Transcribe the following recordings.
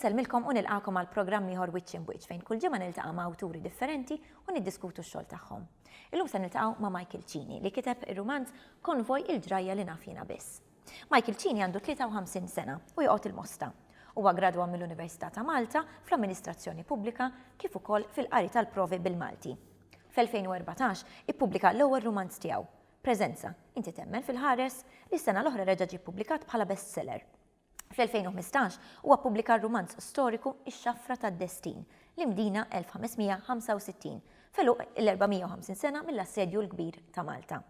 Insellmilkom u nilqakom għal programm ieħor wiċċ imwiċċ fejn kull ġimgħa niltaqa' ma' awturi differenti u niddiskutu x-xogħol tagħhom. Illum se niltaqgħu ma' Michael Cini li kiteb ir-rumanz Konvoj il-ġrajja li naf jiena biss. Michael Cini għandu 53 sena u joqgħod il-Mosta. Huwa gradwa mill-Università ta' Malta fl-Amministrazzjoni Pubblika kif ukoll fil-qari tal-provi bil-Malti. Fl-2014 ippubblika l-ewwel rumanz tiegħu, Preżenza, Inti Temmen fil-Ħares? li s-sena l-oħra reġa' ġie ppubblikat bħala bestseller. Fl-2015 huwa ppubblika r-rumanz storiku Ix-Xafra tad-Destin, l-Imdina 1565, f'għeluq l-450 sena mill-Assedju l-Kbir ta' Malta.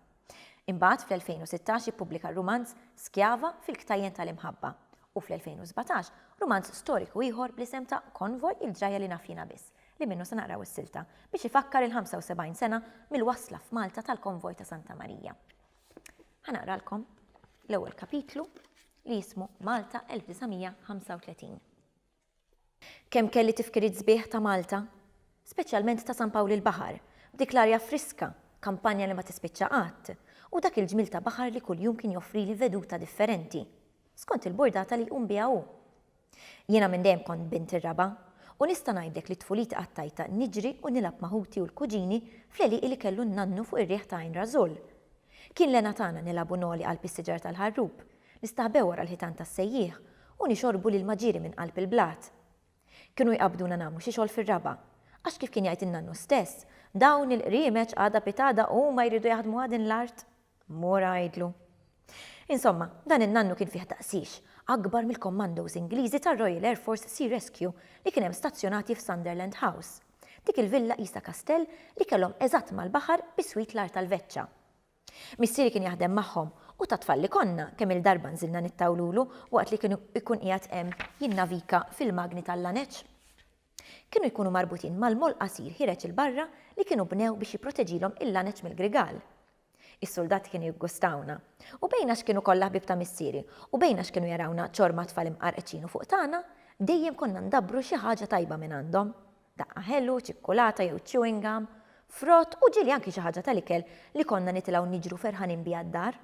Imbagħad fl-2016 ippubblika r-rumanz Skjava fil-Ktajjen tal-Imħabba u fl-2017 rumanz storiku ieħor bl-isem ta' Konvoj il-ġrajja li naf jiena biss, li minnu se naqraw is-silta, biex ifakkar il-75 sena mill-wasla f'Malta tal-Konvoj ta' Santa Marija. Ħa naqralkom l-ewwel kapitlu li jismu Malta 1935. Kemm kelli tifkiriet sbieħ ta' Malta, speċjalment ta' San Pawl il-Baħar, b'dik l-arja friska, kampanja li ma tispiċċa qatt, u dak il-ġmiel ta' baħar li kuljum kien joffrili veduta differenti, skont il-burdata li jqum biha hu. Jiena minn dejjem kont bint ir-raba', u nista' ngħidlek li tfuliti qattajtha niġri u nilgħab ma' ħuti u l-kuġini fl-għelieqi li kellu n-nannu fuq ir-riħ ta' Għajn Rażul. Kien l-hena tagħna nilgħabu ngħoli qalb is-siġar tal-ħarrub, Nistaħbew wara l-ħitan tas-sejjieħ u nixorbu l-ilma ġieri minn qalb il-blat. Kienu jqabbduna nagħmlu xi xogħol fir-raba', għax kif kien jgħid in-nannu stess, Dawn il-qriemeċ għada pitgħada huma jridu jaħdmuha din l-art? Mur għidlu. Insomma, dan in-nannu kien fih taqsix, akbar mill-commandos Ingliżi tar-Royal Air Force Sea Rescue li kien hemm stazzjonati f'Sunderland House. Dik il-villa qisha kastell li kellhom eżatt mal-baħar biswit l-għar tal-veċċa. Missieri kien jaħdem magħhom u ta' tfal li konna, kemm-il darba nżilna nittawlulu waqt li kien ikun qiegħed hemm jinnavika fil-magni tal-laneċ. Kienu jkunu marbutin mal-moll qasir ħireġ 'il barra li kienu bnew biex jipproteġilhom il-laneċ mill-grigal. Is-suldati kienu jiggustawna. U bejn għax kienu kollha ħbieb ta' missieri u bejn għax kienu jarawna ċorma tfal imqarqċin u fuq tagħna, dejjem konna ndabbru xi ħaġa tajba mingħandhom. daqqa ħelu, ċikkulata jew chewing gum, frott u ġieli anki xi ħaġa tal-ikel li konna nitilgħu niġru ferħanin biha d-dar.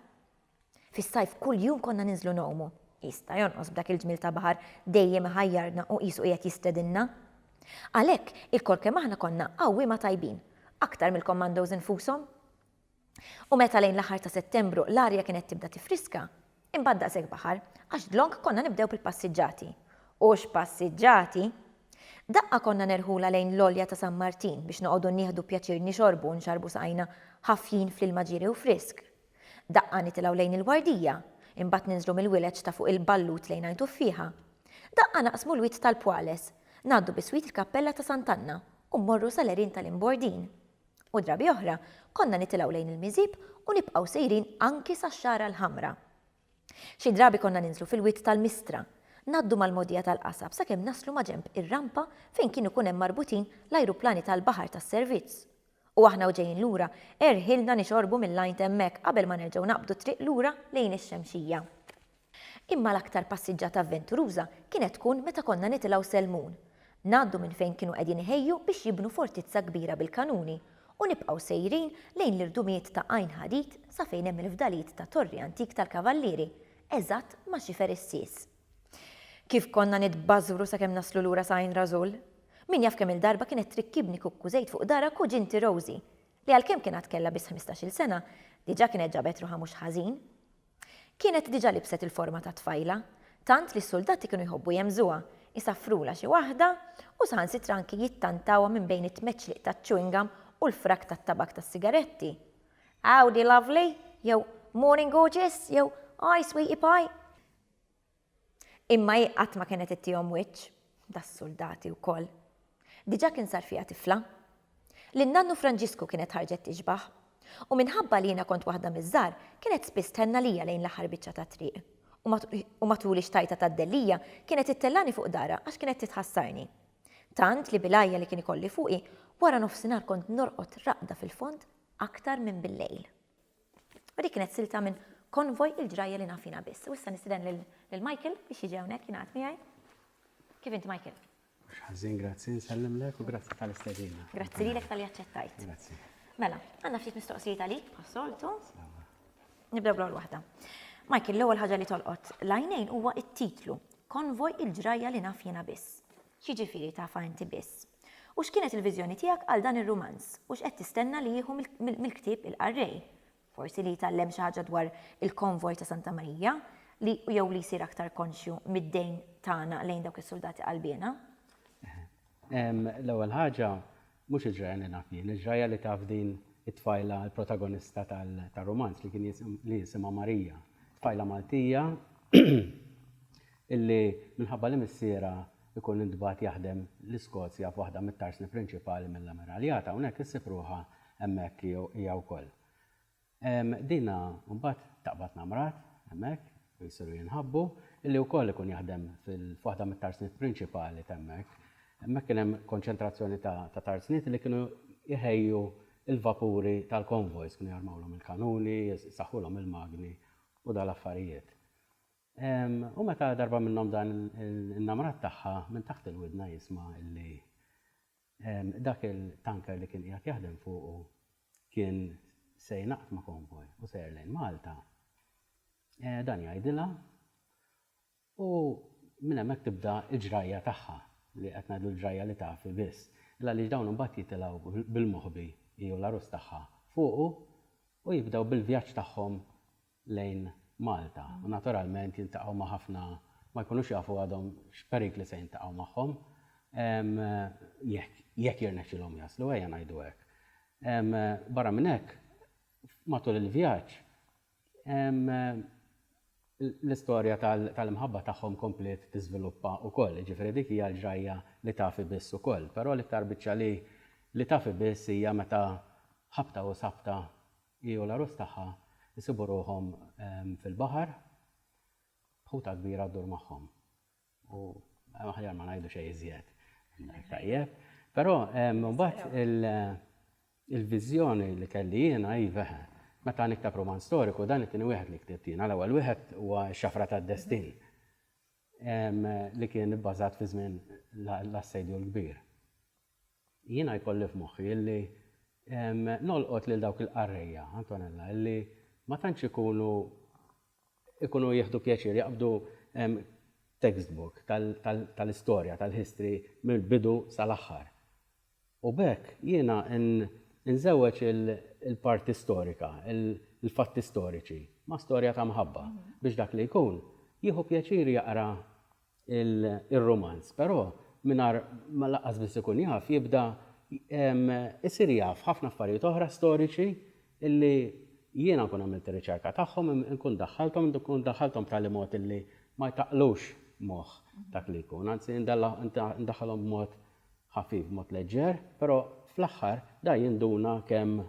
Fis-sajf kuljum konna ninżlu ngħumu. Jista' jonqos b'dak il-ġmiel ta' baħar dejjem iħajjarna u qisu qiegħed jistedinna. Għalhekk, ilkoll kemm aħna konna għawwiema tajbin, aktar mill-commandos infushom. U meta lejn l-aħħar ta' Settembru l-arja kienet tibda tiffriska, imbagħad daqshekk baħar, għax dlonk konna nibdew bil-passiġġati. U x'passiġġati! Daqqa konna nerħulha lejn l-għolja ta' San Martin biex noqogħdu nieħdu pjaċir nixorbu u nxarrbu saqajna ħafjin fl-ilma ġieri u frisk. Daqqa nitilgħu lejn il-Wardija, imbagħad ninżlu mill-wileġġ ta' fuq il-Ballut lejn Għajn Tuffieħa. Daqqa naqsmu l-wied tal-Pwales, ngħaddu biswit il-Kappella ta' Sant'Anna u mmorru sal-għerien tal-Imbordin. U drabi oħra konna nitilgħu lejn il-miżieb u nibqgħu sejrin anki sax-Xagħra l-Ħamra. Xi drabi konna ninżlu fil-wied tal-Mistra, ngħaddu mal-mogħdija tal-qasab sakemm naslu maġenb ir-rampa fejn kienu jkun hemm marbutin l-ajruplani tal-baħar tas-servizz. U aħna u ġejjin lura, erħilna nixorbu mill-għajn t'hemmhekk qabel ma nerġgħu naqbdu t-triq lura lejn ix-Xemxija. Imma l-aktar passiġġata avventuruża kienet tkun meta konna nitilgħu Selmun. Ngħaddu minn fejn kienu qegħdin iħejju biex jibnu fortizza kbira bil-kanuni u nibqgħu sejrin lejn l-irdumijiet ta' Għajn Ħadid sa fejn hemm il-fdalijiet ta' torri antik tal-Kavallieri, eżatt ma' xifer is-Sis. Kif konna nitbażżwru sakemm naslu lura sa Għajn Rażul! Min jaf kemm-il darba kienet trikkibni kukku żejt fuq dahra kuġinti Rosy, li għalkemm kien għad kellha biss ħmistax-il sena, diġà kienet ġabet ruħha mhux ħażin. Kienet diġà libset il-forma ta' tfajla, tant li s-suldati kienu jħobbu jemmżuha, isaffrulha xi waħda u saħansitra anki jittantawha minn bejn it-tmeċliq taċ-chewing gum u l-frak tat-tabakk tas-sigaretti. Howdy, lovely! jew Morning, gorgeous! jew Hi, sweetie pie! Imma hi qatt ma kienet ittihom wiċċ, das-suldati wkoll. Diġà kien sar fiha tifla. Lil nannu Franġisku kienet ħarġet tixbah. U minħabba li jiena kont waħda miż-żgħar, kienet spiss thenn għalija lejn l-aħħar biċċa tat-triq. U matul ix-xtajta tad-dellija kienet ittellagħni fuq darha għax kienet titħassarni. Tant li bil-għajja li kien ikolli fuqi, wara nofsinhar kont norqod raqda fil-fond aktar minn bil-lejl. U dik kienet silta minn konvoj il-ġrajja li naf jiena biss. U issa nistiden lil Michael biex jiġi hawnhekk jingħaqad miegħi. Kif int Michael? Ħażin grazzi nsellimlek u grazzi tal-istedina. Grazzi lilek tal-li aċċettajt. Grazzi. Mela, għandna ftit mistoqsijiet għalik bħas-soltu. Nibdew bl-ewwel waħda. Michael, l-ewwel ħaġa li tolqot l-għajnejn huwa t-titlu Konvoj il-ġrajja li naf jiena biss. X'jiġifieri tafa inti biss? U x'kienet il-viżjoni tiegħek għal dan ir-rumanz? U x'qed tistenna li jieħu mill-ktieb il-qarrej? Forsi li jitgħallem xi ħaġa dwar il-konvoj ta' Santa Marija, li jew li jsir aktar konxju mid-dejn tagħna lejn dawk is-suldati qalbiena? L-ewwel ħaġa, mhux il-ġrajja li naf jien, il-ġrajja li taf din it-tfajla l-protagonista tar-rumanz li jisimha Marija. Tfajla Maltija illi minħabba li missierha jkun intbagħat jaħdem l-Iskozja f'waħda mit-tarsni prinċipali mill-Amiraljat hawnhekk issib ruħha hemmhekk hija wkoll. Dina mbagħad taqbad ma' mrat hemmhekk u jsiru jinħabbu, illi wkoll ikun jaħdem f'waħda mit-tarsniet prinċipali t'hemmhekk. Hemmhekk kien hemm konċentrazzjoni ta' tarsniet illi kienu jħejju l-vapuri tal-konvojs, kienu jarmawlhom il-kanuni, isaħħulhom il-magni u dal-affarijiet. U meta darba minnhom dan in-namrat tagħha minn taħt il-widna jisma' illi dak il-tanker li kien qiegħed jaħdem fuqu kien se jingħaqad ma' konvoj u sejjer lejn Malta, dan jgħidilha u minn hemmhekk tibda l-ġrajja tagħha, li qed ngħidu l-ġrajja li taf hi biss, għaliex dawn imbagħad jitilgħu bil-moħbi, hi u l-għarus tagħha, fuqu u jibdew bil-vjaġġ tagħhom lejn Malta u naturalment jiltaqgħu ma' ħafna ma jkunux jafu għadhom x'perikli se jiltaqgħu magħhom jekk jekk jirnexxilhom jaslu ejja ngħidu hekk. Barra minn hekk matul il-vjaġġ l-istorja tal-imħabba tagħhom kompliet tiżviluppa wkoll, jiġifieri dik hija l-ġrajja li tafi biss ukoll, però l-iktar biċċa li li tafi biss hija meta ħabta u sabta Hi u l-għarus tagħha jsibu ruħhom fil-baħar b'ħuta kbira ddur magħhom. U aħjar ma ngħidu xejn iżjed. Tajjeb. Però mbagħad il-viżjoni li kelli jiena hi veħe. Meta niktab rumanz storiku, dan it-tieni wieħed li ktibt jiena, l-ewwel wieħed huwa X-Xafra tad-Destin li kien ibbażat fi żmien l-Assedju l-Kbir. Jiena jkolli f'moħħi illi nolqot lil dawk il-qarrejja, Antonella, illi ma tantx ikunu ikunu jieħdu pjaċir jaqbdu textbook tal-istorja, tal-history mill-bidu sal-aħħar. U b'hekk jiena nżewweġ il-parti storika, il-fatti storiċi ma' storja ta' mħabba biex dak li jkun jieħu pjaċir jaqra ir-rumanz, però mingħajr ma laqqas biss ikun jaf, jibda jsir jaf ħafna affarijiet oħra storiċi li jiena nkun għamilt ir-riċerka tagħhom, inkun daħħalthom, inkun daħħalthom b'tali mod li ma jtaqqlux moħħ dak li jkun, anzi ndaħħalhom b'mod ħafif, b'mod leġġer, però fl-aħħar dan jinduna kemm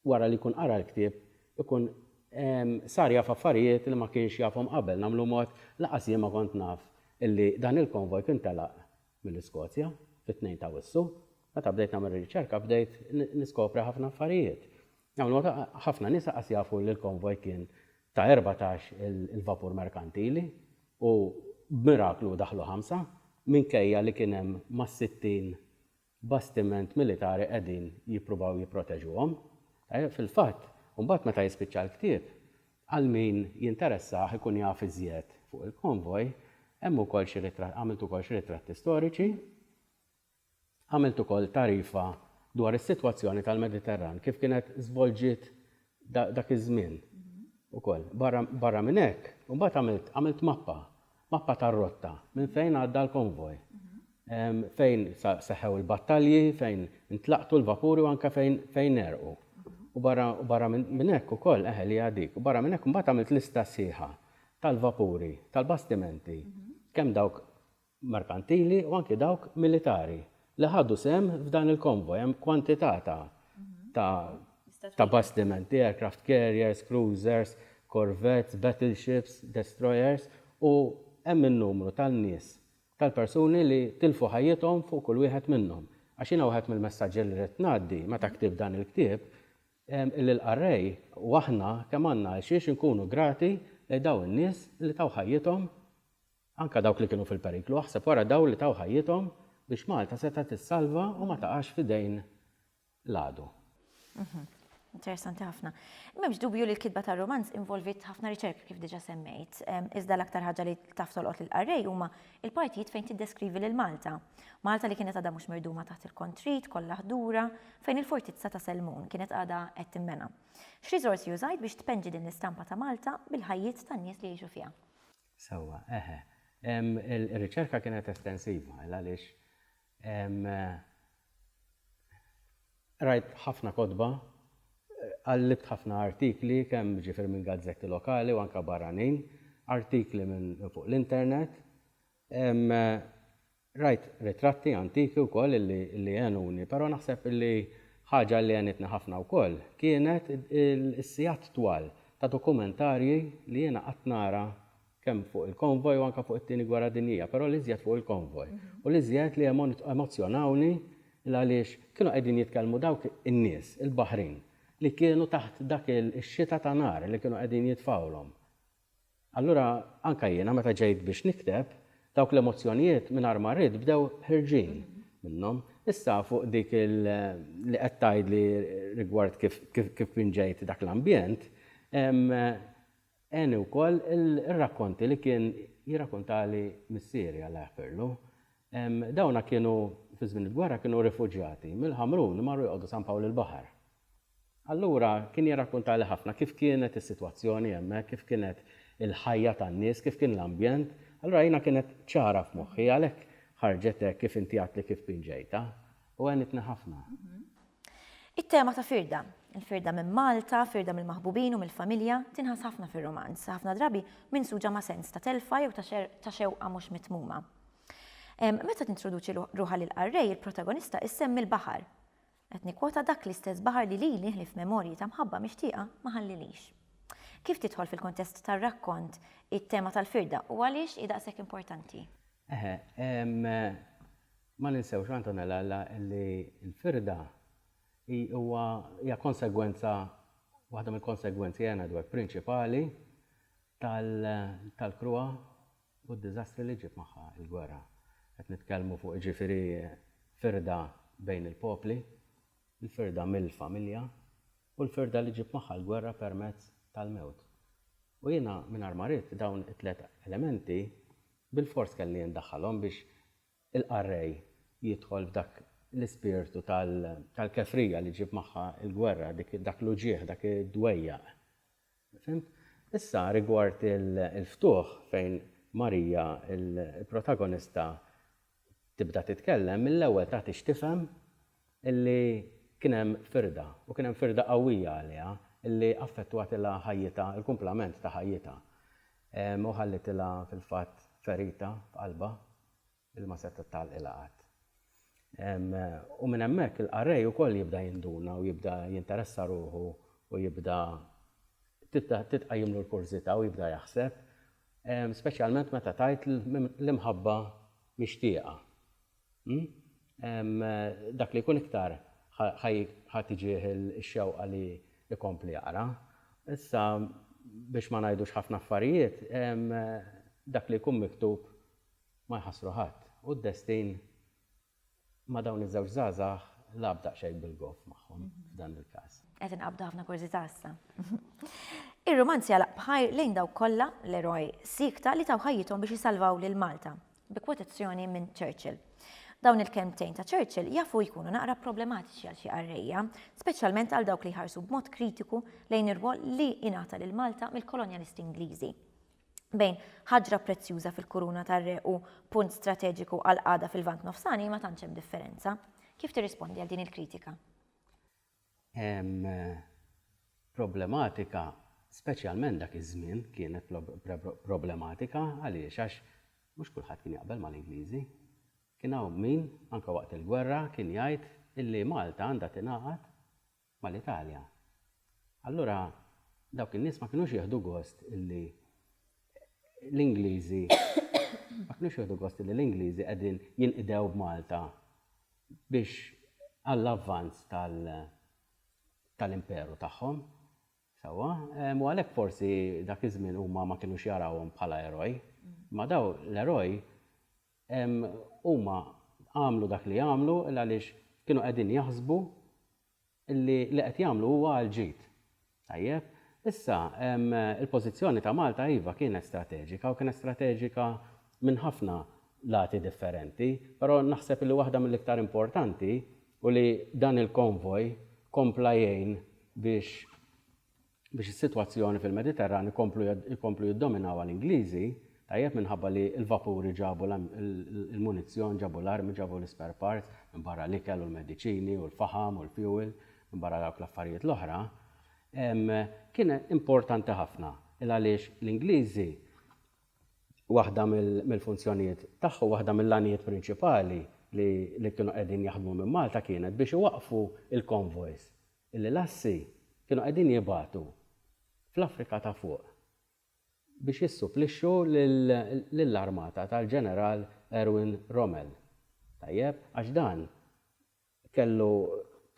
wara li jkun qara l-ktieb ikun sar jaf affarijiet li ma kienx jafhom qabel, nagħmlu mod lanqas jien ma kont naf illi dan il-konvoj kien telaq mill-Iskozja fit-Tnejn ta' Awwissu. Meta bdejt nagħmel ir-riċerka bdejt niskopri ħafna affarijiet. Nagħmlu mod ħafna nies lanqas jafu li l-konvoj kien ta' erbatax il-vapur merkantili u b'miraklu daħlu ħamsa minkejja li kien hemm mas-sittin bastiment militari qegħdin jippruvaw jipproteġuhom. Fil-fatt, imbagħad meta jispiċċa l-ktieb, għal min jinteressah ikun jaf iżjed fuq il-konvoj, hemm ukoll xi ritratti, għamilt ukoll xi ritratti storiċi, għamilt ukoll tagħrifa dwar is-sitwazzjoni tal-Mediterran kif kienet żvolġiet dak iż-żmien ukoll. Barra minn hekk, imbagħad għamilt għamilt mappa, mappa tar-rotta minn fejn għadda l-konvoj, fejn seħħew il-battalji, fejn intlaqtu l-vapuri u anke fejn fejn għerqu. U barra u barra minn hekk ukoll, eħe li hija dik, u barra minn hekk imbagħad għamilt lista sħiħa tal-vapuri, tal-bastimenti, kemm dawk merkantili u anki dawk militari li ħadu sehem f'dan il-konvoj. Hemm kwantità ta' ta' ta' bastimenti, aircraft carriers, cruisers, corvettes, battleships, destroyers u hemm in-numru tan-nies, tal-persuni li tilfu ħajjithom fuq kull wieħed minnhom. Għax jiena wieħed mill-messaġġi li ridt ngħaddi meta ktibt dan il-ktieb illi l-qarrej u aħna kemm għandna għalxiex inkunu grati lejn dawn in-nies li taw ħajjithom Anke dawk li kienu fil-periklu, aħseb wara dawl li taw ħajjithom biex Malta setgħet tissalva u ma taqax f'idejn l-għadu. Interessanti ħafna. M'hemmx dubju li l-kitba tar-rumanz involvit ħafna riċerka kif diġà semmejt, iżda l-aktar ħaġa li taf tolqot lill-qarrej huma l-partijiet fejn tiddeskrivi lil Malta. Malta li kienet għadha mhux mirduma taħt il-kontrit, kollha ħdura, fejn il-fortizza ta' Selmun kienet għadha qed tinbena. X'riżorsi użajt biex tpenġi din l-istampa ta' Malta bil-ħajjiet tan-nies li jgħixu fiha? Sewwa, eħe. Ir-riċerka kienet estensiva, għaliex qrajt ħafna kotba, qallibt ħafna artikli, kemm jiġifieri minn gazzetti lokali u anke barranin, artikli minn fuq l-internet, Rajt ritratti antiki wkoll li għenuni, però naħseb li ħaġa li għenitni ħafna wkoll kienet is-sigħat twal ta' dokumentarji li jiena qgħadt nara kemm fuq il-konvoj u anke fuq it-Tieni Gwerra Dinjija, però l-iżjed fuq il-konvoj. U l-iżjed li emozzjonawni il għaliex kienu qegħdin jitkellmu dawk in-nies, il-baħrin, li kienu taħt dak ix-xita ta' nar li kienu qegħdin jitfgħulhom. Allura anke jiena meta ġejt biex nikteb, dawk l-emozzjonijiet mingħajr ma rrid bdew ħerġin minnhom. Issa fuq dik li qed tgħidli rigward kif kif pinġejt dak l-ambjent, għeni wkoll ir-rakkonti li kien jirrakuntali missieri Alla jaħfirlu. Dawna kienu fi żmien il-gwerra kienu rifuġjati mill-Ħamrun marru joqogħdu San Pawl il-Baħar Allura kien jirrakkuntali ħafna kif kienet is-sitwazzjoni hemmhekk, kif kienet il-ħajja tan-nies, kif kien l-ambjent. Allura jiena kienet ċara f'moħħi, għalhekk ħarġet hekk kif inti għedtli kif pinġejtha, u għenitni ħafna. It-tema ta' firda, il-firda minn Malta, firda mill-maħbubin u mill-familja, tinħass ħafna fir-rumanz, ħafna drabi minsuġa ma' sens ta' telfa jew ta' xewqa mhux mitmuma. Meta tintroduċi ruħha lil Qarrej, il-protagonista issemmi l-baħar. Qed nikkwota dak l-istess baħar li lili ħlief memorji ta' mħabba mixtieqa ma ħallilix. Kif tidħol fil-kuntest tar-rakkont it-tema tal-firda u għaliex hi daqshekk importanti? Eħe, ma ninsewx, Antonella, li l-firda hi huwa hija konsegwenza waħda mill-konsegwenzi, Anna Edward, prinċipali tal-kruha u d-diżastri li ġġib magħha l-gwerra. Qed nitkellmu fuq jiġifieri firda bejn il-popli, il-firda mill-familja u l-firda li ġġib magħha l-gwerra permezz tal-mewt. U jiena mingħajr ma ridt dawn it-tliet elementi bilfors kelli ndaħħalhom biex il-qarrej jidħol f'dak l-ispirtu tal-kefrija li ġġib magħha l-gwerra, dak l-uġigħ, dak id-dwejjaq Fhimt? Issa rigward il-ftuħ fejn Marija, il-protagonista tibda titkellem, mill-ewwel tagħti x'tifhem illi kien hemm firda u kien hemm firda qawwija għaliha illi affettwatilha ħajjitha, il-kumplament ta' ħajjitha u ħallitilha fil-fatt ferita f'qalbha. l-ilma setgħet tgħalqilha qatt. U minn hemmhekk il-qarrej ukoll jibda jinduna u jibda jinteressa ruħu u jibda tibda titqajjimlu l-kurżità u jibda jaħseb, speċjalment meta tgħid l-imħabba mixtieqa. Dak li jkun iktar ħa tiġih ix-xewqa li jkompli jaqra. Issa biex ma ngħidux ħafna affarijiet, dak li jkun miktub Ma jħassru ħadd u d-destin ma' dawn iż-żewġ żgħażagħ lagħab daqsxejn bil-goff magħhom f'dan il-każ. Qed inqabdu ħafna kurżità issa. Ir-rumanz jagħlaq b'ħajr lejn dawk kollha, l-eroj, siekta li taw ħajjithom biex isalvaw lil Malta, bi kwotazzjoni minn Churchill. Dawn il-kelmtejn ta' Churchill jafu jkunu naqra problematiċi għal xi qarrejja, speċjalment għal dawk li jħarsu b'mod kritiku lejn ir-rwol li ingħata lil Malta mill-kolonjalisti Ingliżi. bejn ħaġra prezzjuża fil-kuruna tar-re u punt strateġiku għall-qagħda fil-Lvant Nofsani ma tantx hemm differenza. Kif tirrispondi għal din il-kritika? Hemm problematika, speċjalment dak iż-żmien kienet problematika għaliex għax mhux kulħadd kien jaqbel mal-Ingliżi. Kien hawn min, anke waqt il-gwerra, kien jgħid illi Malta għandha tingħaqad mal-Italja. Allura dawk in-nies ma kinux jieħdu gost illi l-Ingliżi ma kinux jieħdu gost illi l-Ingliżi qegħdin jinqdew b'Malta biex għall-avvanz tal-imperu tagħhom. Sewwa? U għalhekk forsi dak iż-żmien huma ma kinux jarawhom bħala eroj. Imma dawn l-eroj Huma għamlu dak li għamlu għaliex kienu qegħdin jaħsbu li li qed jagħmlu huwa għall-ġid. Tajjeb, issa il-pożizzjoni ta' Malta iva kienet strateġika u kienet strateġika minn ħafna lati differenti, però naħseb li waħda mill-iktar importanti hu li dan il-konvoj kompla jgħin biex, biex is-sitwazzjoni fil-Mediterran ikomplu jkomplu jiddominawha l-Ingliżi, tajjeb minħabba li l-vapuri ġabu l-munizzjon, ġabu l-armi, ġabu l-ispare parts, minbarra l-ikel u l-mediċini u l-faħam u l-fjuwil, minbarra dawk l-affarijiet l-oħra, kien importanti ħafna il-għaliex l-Ingliżi waħda mill-funzjonijiet tagħhom, waħda mill-għanijiet prinċipali li kienu qegħdin jaħdmu minn Malta kienet biex iwaqqfu l-convoys illi l-Assi kienu qegħdin jibagħtu fl-Afrika ta' Fuq biex jissupplixxu lill-armata tal-Ġeneral Erwin Rommel. Tajjeb? Għax dan kellu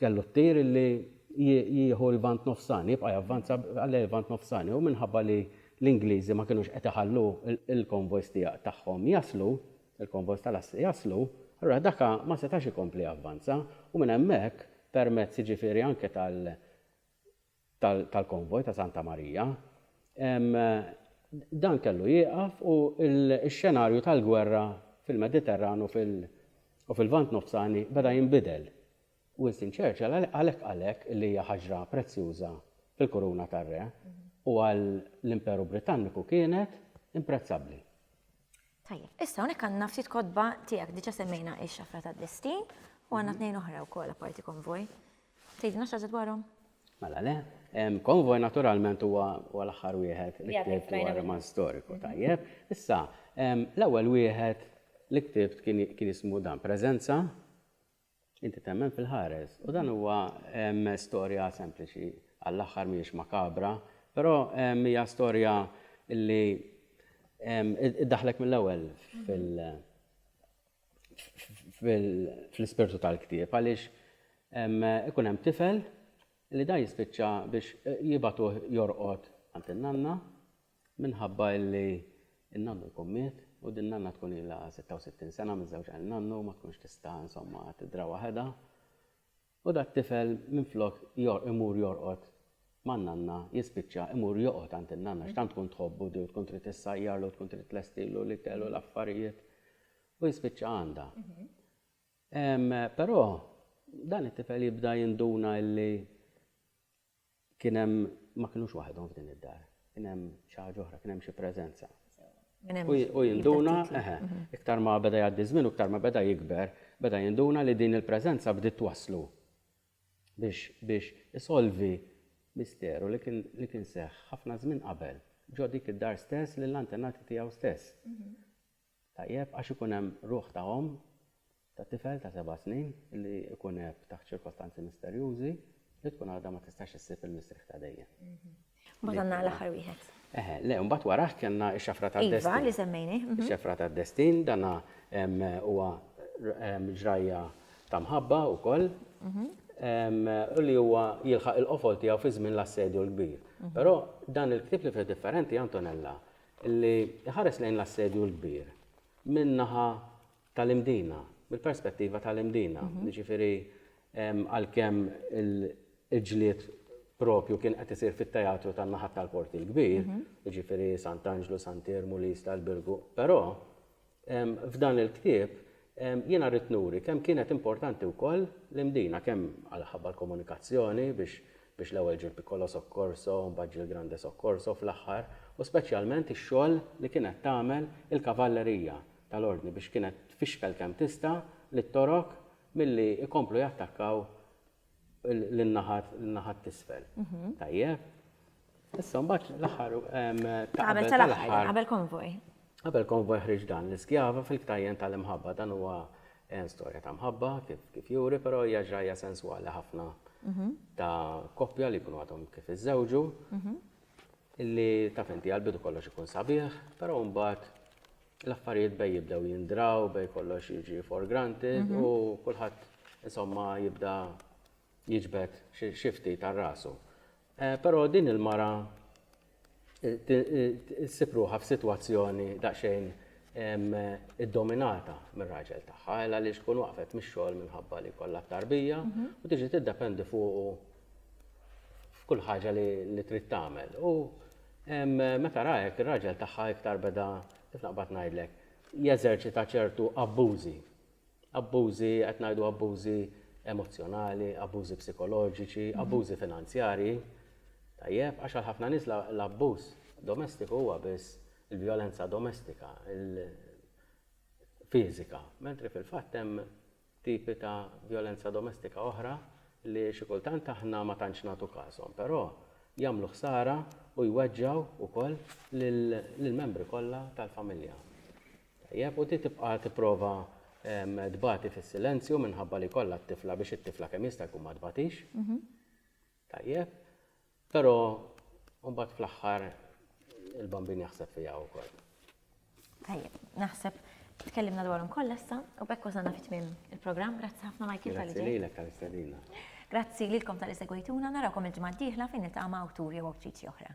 kellu t-tir illi jieħu l-Lvant Nofsani, jibqa' javvanza għal lejn il-Lvant Nofsani, u minħabba li l-Ingliżi ma kinux qed iħallu l-konvojs tiegħ tagħhom jaslu, il-konvoj tal-assi jaslu, allura daka ma setax ikompli javvanza u minn hemmhekk permezz jiġifieri anke tal tal-konvoj ta' Santa Marija, dan kellu jieqaf u x-xenarju tal-gwerra fil-Mediterran u fil u fil-Lvant Nofsani beda jinbidel. Winston Churchill għalhekk qal hekk li hija ħaġra prezzjuża fil-kuruna tar-re u għal l-Imperu Britanniku kienet imprezzabbli. Tajjeb, issa hawnhekk għandna ftit kotba tiegħek diġà semmejna x-xafra tad-destin u għandna tnejn oħra wkoll apparti konvoj. Tgħidilna xi ħaġa dwarhom? Mela le, konvoj naturalment huwa l-aħħar wieħed li ktibt dwar roman storiku tajjeb. Issa, l-ewwel wieħed li ktibt kien jismu dan preżenza Inti temmen fil-ħares. U dan huwa storja sempliċi, għall-aħħar mhijiex makabra, però hija storja li iddaħħlek mill-ewwel fl-ispirtu tal-ktieb għaliex ikun hemm tifel li dan jispiċċa biex jibagħtuh jorqod għand in-nanna Minħabba illi n-nannu jkun miet u din nanna tkun ilha 66 sena miżżewġa lil nannu ma tkunx tista' insomma tidra waħedha u dat-tifel minflok imur jorqod man-nanna jispiċċa imur joqgħod għand in-nanna għax tant tkun tħobbu di u tkun trid issajjarlu u tkun trid tlestilu l-ikel u l-affarijiet u jispiċċa għandha. Però dan it-tifel jibda jinduna illi Kien hemm, ma kinux waħedhom f'din id-dar. Kien hemm xi ħaġa oħra, kien hemm xi preżenza. U jinduna, eħe, iktar ma beda jgħaddi ż-żmien u iktar ma beda jikber, beda jinduna li din il-preżenza bdiet twasslu biex isolvi misteru li kien seħħ ħafna żmien qabel, ġo dik id-dar stess lill-antenati tiegħu stess. Tajjeb għax ikun hemm ruħ ta' omm ta' tifel ta' seba' snin li jkun għeb taħt ċirkostanzi misterjużi li tkun għadha ma tistax issib il-mistrieħ ta' dejjem. Mbagħad għandna l-aħħar wieħed. Eħe, le, mbagħad warajh kellna x-xafra tad-destin. Iva, li semmejnih. Ix-xafra tad-destin, dan huwa ġrajja ta' mħabba wkoll u li huwa jilħaq il-qofol tiegħu fi żmien l-Assedju l-Kbir. Però dan il-ktieb li fih differenti, Antonella, li jħares lejn l-Assedju l-Kbir min-naħa tal-Imdina, mill-perspettiva tal-Imdina. Jiġifieri għalkemm il-ġlied propju kien qed isir fit-teatru tan-naħat tal-Port il-Kbir, jiġifieri Sant'Anġlu, Sant'Iermu, l-Isla, l-Birgu, però F'dan il-ktieb jiena ridt nuri kemm kienet importanti wkoll l-Imdina, kemm għalħabba l-komunikazzjoni biex biex l-ewwel ġie l-Piccolo Soccorso u mbagħad ġie l-Grande Soccorso fl-aħħar u speċjalment ix-xogħol li kienet tagħmel il-kavallerija tal-Ordni biex kienet tfixkel kemm tista' lit-Torok milli jkomplu jattakkaw lin-naħat lin-naħat t'isfel. Tajjeb? Issa mbagħad l-aħħar qabel tal-aħħar. Qabel konvoj. Qabel konvoj ħriġ dan l-iskjava fil-ktajjen tal-imħabba dan huwa eh, storja ta' mħabba kif juri, però hija ġrajja senswali ħafna mhm. ta' koppja li jkunu għadhom kif iżżewġu mhm. illi ta' fenti għal-bidu kollox ikun sabiħ, però mbagħad l-affarijiet bej jibdew jindraw, bej kollox jiġi for granted mhm. u kulħadd insomma jibda jiġbed xifti tar-rasu. Eh, però din il-mara issib ruħha f'sitwazzjoni daqsxejn id-dominata mir-raġel tagħha, għal li xkun waqfet mix-xogħol minħabba li kollha tarbija mhm. u tiġi tiddependi fuq f'kull ħaġa li trid tagħmel. U meta rajek ir-raġel tagħha iktar beda kif naqbad ngħidlek jeżerċita ċertu abbużi Abbużi, qed ngħidu abbużi emozzjonali, abbużi psikoloġiċi, abbużi finanzjarji, tajjeb, għax għal ħafna nies l-abbuż domestiku huwa biss il-vjolenza domestika, fiżika, mentri fil-fatt hemm tipi ta' vjolenza domestika oħra li xi kultant aħna ma tantx nagħtu każhom, però jagħmlu ħsara u jweġġgħu wkoll lill-membri kollha tal-familja. Tajjeb, u ti tibqa' tipprova tbati fis-silenzju minħabba li jkollha t-tifla biex it-tifla kemm jista' jkun ma tbatix. Tajjeb. Però mbagħad fl-aħħar il-bambin jaħseb fiha wkoll. Tajjeb, naħseb tkellimna dwarhom kollha issa u b'hekk wasalna fi tmiem il-programm. Grazzi ħafna Michael tal-ġej. Grazzi lilek tal-istedina. Grazzi lilkom tal-li segwejtuna, narawkom il-ġimgħa d-dieħla fejn niltaqa' ma' awtur jew awtriċi oħra.